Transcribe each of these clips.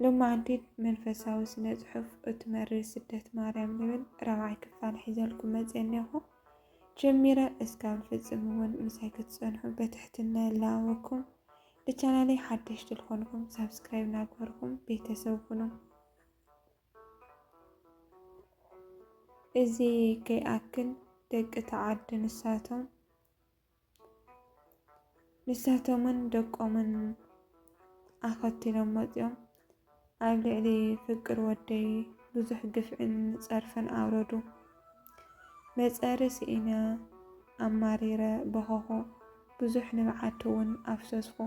ሎማዓንቲ መንፈሳዊ ስነ ጽሑፍ እቲ መሪር ስደት ማርያም ዝብል ራብዓይ ክፋል ሒዘልኩም መጽየ እኔኹ። ጀሚረ እስካብ ዝፍጽም እውን ምሳይ ክትጸንሑ በትሕትና ይላበወኩም። ልቻናለይ ሓደሽቲ ልኾንኩም ሳብስክራይብ ናግበርኩም ቤተሰብ ኩኑ። እዚ ከይኣክል ደቂ ተዓዲ ንሳቶም ንሳቶምን ደቆምን ኣኸቲሎም መጽዮም ኣብ ልዕሊ ፍቅር ወደይ ብዙሕ ግፍዕን ጸርፍን ኣውረዱ። መጸሪ ስኢነ ኣማሪረ በኸኹ፣ ብዙሕ ንብዓትውን ኣፍሰስኹ።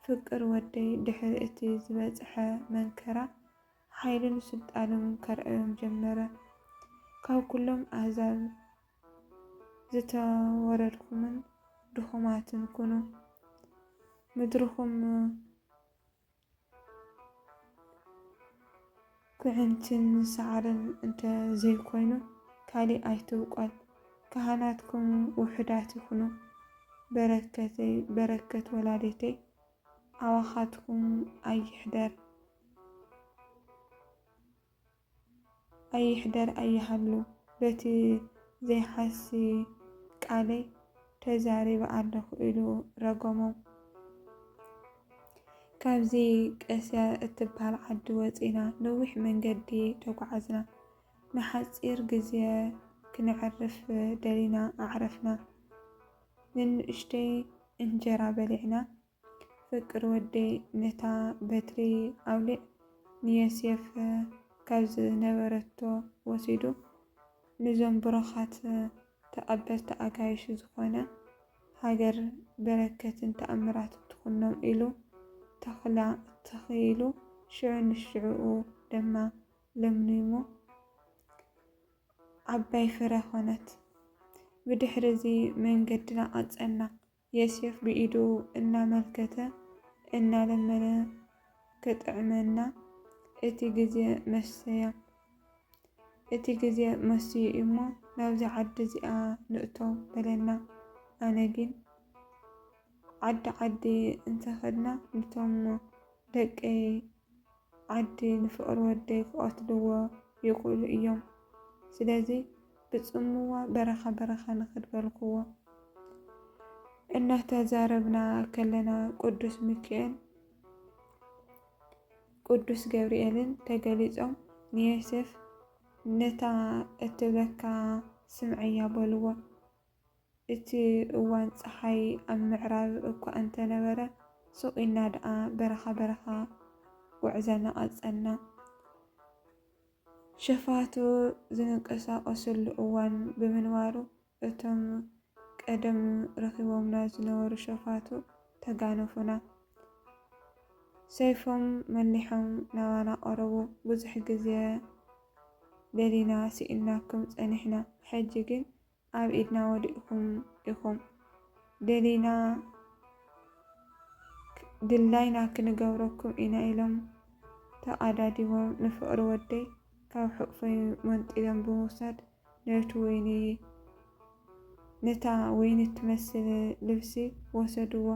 ፍቅር ወደይ ድሕሪ እቲ ዝበጽሐ መንከራ ሓይሉን ስልጣኑን ከርዕዮም ጀመረ። ካብ ኩሎም ኣህዛብ ዝተወረድኩምን ድኹማትን ኩኑ፣ ምድርኹም ኩዕንትን ሳዕርን እንተ ዘይኮይኑ ካሊእ ኣይትብቆል፣ ካህናትኩም ውሑዳት ይኹኑ፣ በረከተይ በረከት ወላዲተይ ኣባኻትኩም ኣይሕደር። ኣይሕደር ኣይሃሉ በቲ ዘይሓሲ ቃለይ ተዛሪበ ኣለኹ ኢሉ ረገሞም። ካብዚ ቀስያ እትብሃል ዓዲ ወጺእና ነዊሕ መንገዲ ተጓዓዝና። ንሓጺር ግዜ ክነዕርፍ ደሊና ኣዕረፍና። ንንእሽተይ እንጀራ በሊዕና ፍቅር ወደይ ነታ በትሪ ኣውሊዕ ንየሴፍ ካብ ዝነበረቶ ወሲዱ ንዞም ብሩኻት ተቀበልቲ ኣጋይሽ ዝኾነ ሃገር በረከትን ተኣምራትን ትኹኖም ኢሉ ተኽላ ተኺኢሉ ሽዑ ንሽዑኡ ደማ ለምሊሙ ዓባይ ፍረ ኾነት። ብድሕሪ እዚ መንገድና ቀጸልና። የሴፍ ብኢዱ እናመልከተ እናለመነ ክጥዕመና እቲ ግዜ መሰያ። እቲ ግዜ መሲዩ እዩሞ ናብዚ ዓዲ እዚኣ ንእቶ በለና። ኣነ ግን ዓዲ ዓዲ እንተኸድና ንቶም ደቀይ ዓዲ ንፍቅሪ ወደይ ክቀትልዎ ይክእሉ እዮም ስለዚ ብጽምዋ በረካ በረካ ንክድ በልክዎ እናተዛረብና ከለና ቅዱስ ሚኪኤል ቅዱስ ገብርኤልን ተገሊጾም ንዮሴፍ ነታ እትብለካ ስምዐያ በልዎ። እቲ እዋን ጸሓይ ኣብ ምዕራብ እኳ እንተ ነበረ፣ ሱቕ ኢልና ደኣ በረኻ በረኻ ጕዕዘና ቐጸልና። ሸፋቱ ዚንቀሳቐሱሉ እዋን ብምንባሩ፣ እቶም ቀደም ረኺቦምና ዝነበሩ ሸፋቱ ተጋነፉና። ሰይፎም መሊሖም ናባና ቐረቡ፣ ብዙሕ ግዜ ደሊና ስኢንናኩም ጸኒሕና፣ ሕጂ ግን ኣብ ኢድና ወዲቅኩም ኢኩም ደሊና ድላይና ክንገብረኩም ኢና ኢሎም ተቀዳዲቦም ንፍቅሪ ወደይ ካብ ሕቁፈይ መንጢሎም ብምውሳድ ነቲ ወይኒ ነታ ወይኒ እትመስል ልብሲ ወሰድዎ።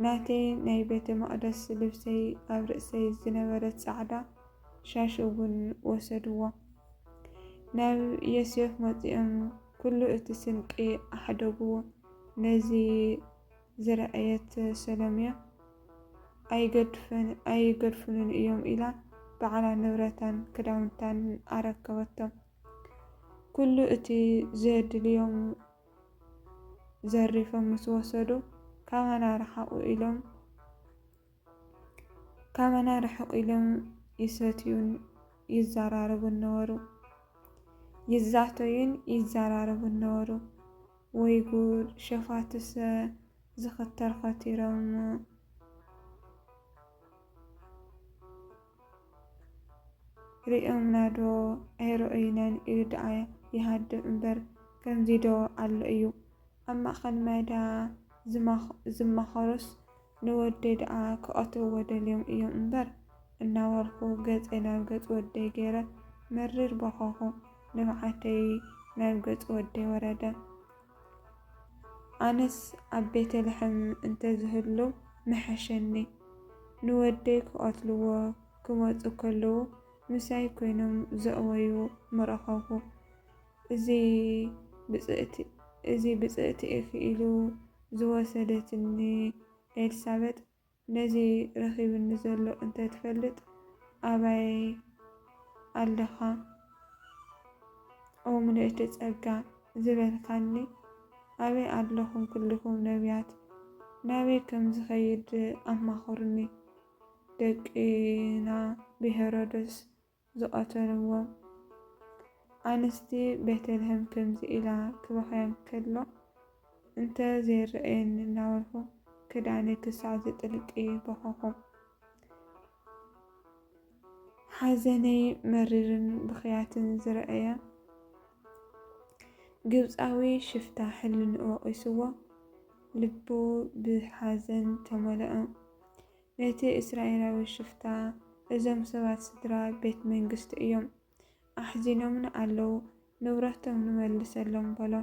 ናተይ ናይ ቤተ መቅደስ ልብሰይ ኣብ ርእሰይ ዝነበረት ጻዕዳ ሻሽ እውን ወሰድዎ። ናብ ዮሴፍ መጺኦም ኩሉ እቲ ስንቂ ኣሕደግዎ። ነዚ ዝረኣየት ሰሎምያ ኣይገድፉንን እዮም ኢላ ባዕላ ንብረታን ክዳውንታን ኣረከበቶም። ኩሉ እቲ ዘድልዮም ዘሪፎም ምስ ወሰዱ ካባና ርሓቑ ኢሎም ካባና ርሕቕ ኢሎም ይሰትዩን ይዘራረቡን ነበሩ። ይዛተዩን ይዘራረቡን ነበሩ። ወይ ጉድ! ሸፋትሰ ዝኽተር ኸቲሮም እሞ ርእዮምና ዶ ኣይረኣዩናን ኢሉ ደኣ ይሃድም እምበር ከምዚ ዶ ኣሎ እዩ። ኣብ ማእኸል ማይዳ ዝማኸሩስ ንወደይ ደኣ ክቐትልዎ ደልዮም እዮም እምበር እናበልኩ ገፀይ ናብ ገፅ ወደይ ገይረ መሪር በኸኹ። ንብዓተይ ናብ ገፅ ወደይ ወረደ። ኣነስ ኣብ ቤተልሔም እንተዝህሉ ምሐሸኒ። ንወደይ ክቐትልዎ ክመፁ ከለዉ ምሳይ ኮይኖም ዘእወዩ ምረኸብኩ። እዚ ብጽእቲ እዚ ብጽእቲ ኢኪ ኢሉ ዝወሰደትኒ ኤልሳበጥ ነዚ ረኪብኒ ዘሎ እንተ ትፈልጥ ኣባይ ኣለካ ኦ ምልእቲ ጸጋ ዝበልካኒ ኣበይ ኣለኩም ኩልኩም ነብያት ናበይ ከም ዝከይድ ኣማክሩኒ ደቂና ብሄሮዶስ ዝቐተልዎ። ኣንስቲ ቤተልሔም ከምዚ ኢላ ክበኽያ እንከሎ እንተ ዘይረኣየኒ እናበልኩ ክዳነይ ክሳዕ ዝጥልቂ በኸኹ። ሓዘነይ መሪርን ብኽያትን ዝረኣየ ግብጻዊ ሽፍታ ሕልንኡ ወቒስዎ ልቡ ብሓዘን ተመልኦ። ነቲ እስራኤላዊ ሽፍታ እዞም ሰባት ስድራ ቤት መንግስቲ እዮም፣ ኣሕዚኖምና ኣለዉ፣ ንብረቶም ንመልሰሎም በሎ።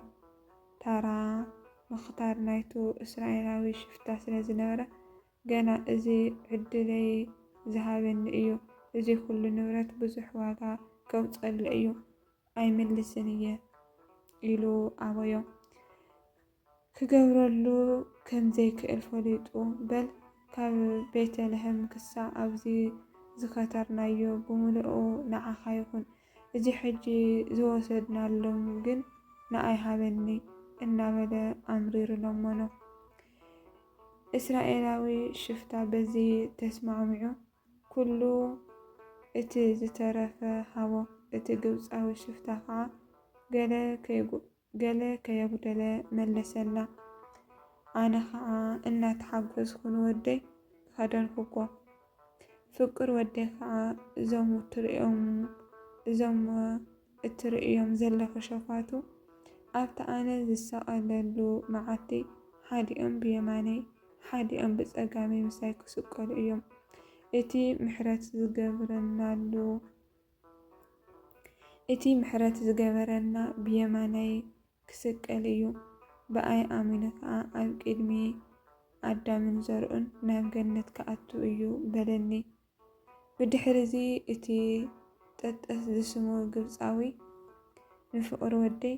ታራ፣ ምኽታር ናይቱ እስራኤላዊ ሽፍታ ስለ ዝነበረ፣ ገና እዚ ዕድለይ ዝሃበኒ እዩ፣ እዚ ዅሉ ንብረት ብዙሕ ዋጋ ከውጽኣሉ እዩ፣ ኣይምልስን እየ ኢሉ ኣበዮ። ክገብረሉ ከም ዘይክእል ፈሊጡ፣ በል ካብ ቤተ ልሔም ክሳዕ ኣብዚ ዝከተርናዮ ብምሉኡ ንዓኻ ይኹን፣ እዚ ሕጂ ዝወሰድናሎም ግን ንኣይ ሃበኒ እናበለ ኣምሪሩ ለመኖ። እስራኤላዊ ሽፍታ በዚ ተስማዕሚዑ ኵሉ እቲ ዝተረፈ ሃቦ፣ እቲ ግብጻዊ ሽፍታ ኸኣ ገለ ከይጕድሎ፣ ገለ ከየጉደለ መለሰላ። ኣነ ኸኣ እናተሓጎስኩ ንወደይ ኸደንኩዎ። ፍቁር ወደይ ኸኣ እዞም እትርእዮም እዞም እትርእዮም ዘለኺ ሸፋቱ ኣብቲ ኣነ ዝሰቐለሉ መዓልቲ ሓዲኦም ብየማነይ ሓዲኦም ብጸጋመይ ምሳይ ክስቀሉ እዮም። እቲ ምሕረት ዝገብረናሉ እቲ ምሕረት ዝገበረልና ብየማነይ ክስቀል እዩ፣ ብኣይ ኣሚኑ ኸኣ ኣብ ቅድሚ ኣዳምን ዘርኡን ናብ ገነት ክኣቱ እዩ በለኒ። ብድሕርዚ እቲ ጠጠስ ዝስሙ ግብጻዊ ንፍቕሪ ወደይ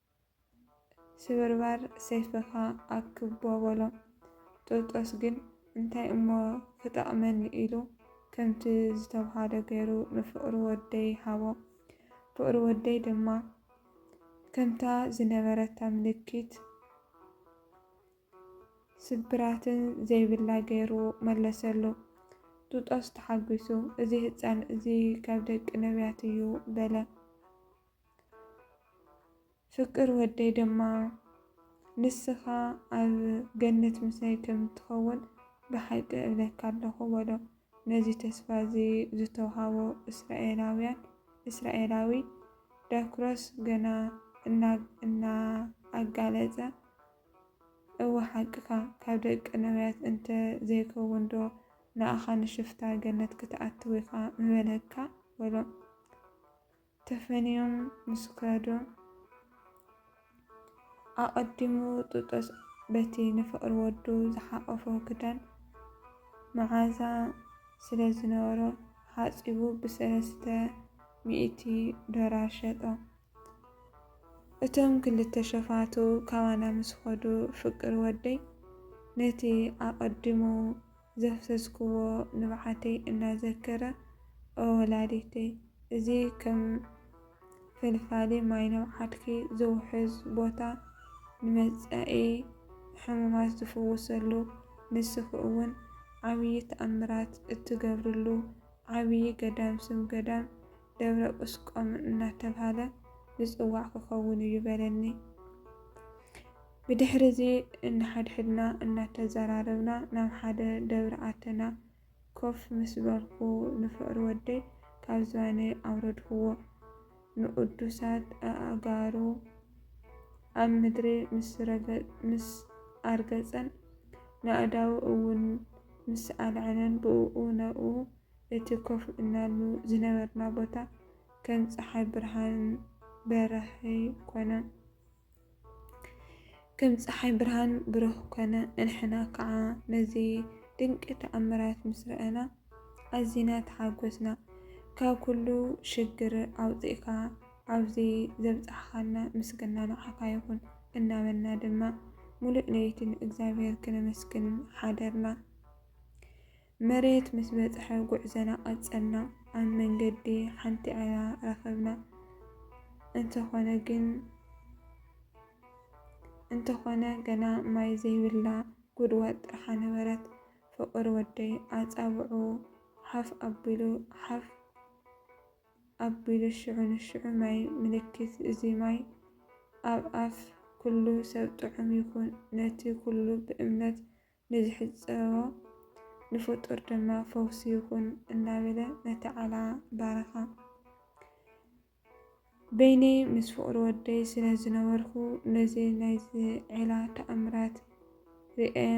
ስብርባር ሰይፍኻ ኣክቦ በሎ። ጥርጦስ ግን እንታይ እሞ ክጠቕመኒ ኢሉ ከምቲ ዝተብሃሎ ገይሩ ንፍቕሩ ወደይ ሃቦ። ፍቕሪ ወደይ ድማ ከምታ ዝነበረታ ምልክት ስብራትን ዘይብላ ገይሩ መለሰሉ። ጥጦስ ተሓጒሱ እዚ ህጻን እዚ ካብ ደቂ ነብያት እዩ በለ። ፍቅር ወደይ ደማ ንስኻ ኣብ ገነት ምሳይ ከም እትኸውን ብሓቂ እብለካ ኣለኹ በሎ። ነዚ ተስፋ እዚ ዝተውሃቦ እስራኤላውያን እስራኤላዊ፣ ዳክሮስ ገና እናኣጋለጸ እወ ሓቅኻ፣ ካብ ደቂ ነብያት እንተ ዘይከውንዶ ንኣኻ ንሽፍታ ገነት ክትኣትው ኢኻ ምበለካ በሎ። ተፈንዮም ምስ ከዱ፣ ኣቐዲሙ ጥጦስ በቲ ንፍቕሪ ወዱ ዝሓቖፎ ክዳን መዓዛ ስለ ዝነበሮ ሓጺቡ ብሰለስተ ሚእቲ ዶላር ሸጦ። እቶም ክልተ ሸፋቱ ካባና ምስ ኸዱ፣ ፍቅር ወደይ ነቲ ኣቐዲሙ ዘፍሰስክዎ ንብዓተይ እናዘከረ ኦ ወላዲተይ እዚ ከም ፈልፋሊ ማይ ንብዓትኪ ዝውሕዝ ቦታ ንመጻኢ ሕሙማት ዝፍውሰሉ ንስኺ እውን ዓብዪ ተኣምራት እትገብርሉ ዓብዪ ገዳም ስም ገዳም ደብረ ቁስቋም እናተብሃለ ዝጽዋዕ ክኸውን እዩ በለኒ። ብድሕሪ እዚ እንሓድሕድና እናተዘራረብና ናብ ሓደ ደብሪ ኣተና። ኮፍ ምስ በልኩ ንፍቕሪ ወደይ ካብ ዝባነይ ኣውረድክዎ። ንቕዱሳት ኣእጋሩ ኣብ ምድሪ ምስ ኣርገጸን ንኣእዳዉ እውን ምስ ኣልዓለን ብእኡ ነብኡ እቲ ኮፍ እልናሉ ዝነበርና ቦታ ከም ጸሓይ ብርሃን በራኺ ኮነ። ከም ጸሓይ ብርሃን ብሩህ ኮነ። ንሕና ከኣ ነዚ ድንቂ ተኣምራት ምስ ረኣና ኣዚና ተሓጎስና። ካብ ኩሉ ሽግር ኣውጺእካ ኣብዚ ዘብጻሕካና ምስግና ንዓካ ይኩን እናበልና ድማ ሙሉእ ለይቲ ንእግዚኣብሄር ክነመስግን ሓደርና። መሬት ምስ በጽሐ ጉዕዘና ቀጸልና። ኣብ መንገዲ ሓንቲ ዒላ ረኸብና። እንተኾነ ግን እንተኾነ ገና ማይ ዘይብላ ጉድጓድ ጥርሓ ነበረት። ፍቕር ወደይ ኣጻብዑ ሓፍ ኣቢሉ ሓፍ ኣቢሉ ሽዑ ንሽዑ ማይ ምልክት እዚ ማይ ኣብ ኣፍ ኩሉ ሰብ ጥዑም ይኹን ነቲ ኩሉ ብእምነት ንዝሕጸቦ ንፍጡር ድማ ፈውሲ ይኹን እናበለ ነቲ ዓላ ባረኻ። በይነይ ምስ ፍቕሪ ወደይ ስለ ዝነበርኩ ነዚ ናይዚ ዒላ ተኣምራት ርእየ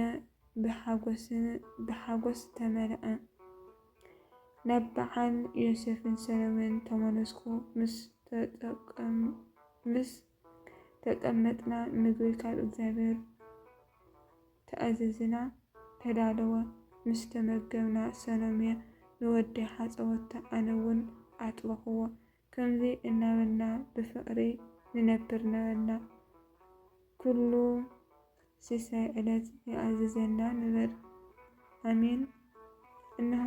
ብሓጎስ ዝተመልኣ ናብ በዓል ዮሴፍን ሰሎሜን ተመለስኩ። ምስ ተጠመጥና ምግቢ ካብ እግዚኣብሔር ተኣዘዝና ተዳለወ ምስ ተመገብና ሰሎሜ ንወዲ ሓፀወቶ ኣነ እውን ኣጥበኹዎ ከምዚ እናበልና ብፍቅሪ ንነብር ነበርና ኩሉ ሲሳይ ዕለት ይኣዝዘና ንበል። ኣሜን እንሆ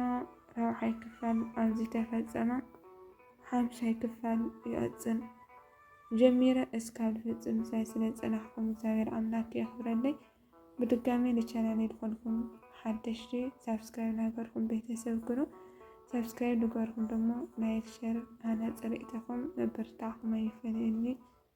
ራብዓይ ክፋል ኣብዚ ተፈጸመ ሓምሻይ ክፋል ይቕጽል ጀሚረ እስካብ ዝፍጽም ምሳይ ስለ ጸናሕኩም እግዚኣብሔር ኣምላክ የኽብረለይ ብድጋሜ ንቻናለይ ዝኾንኩም ሓደሽቲ ሳብስክራይብ ናገርኩም ቤተሰብ ኩኑ ሳብስክራይብ ንገርኩም ደሞ ላይክ ሸር ሃነ ጽርኢተኹም ምብርታዕኩም ኣይፈለየኒ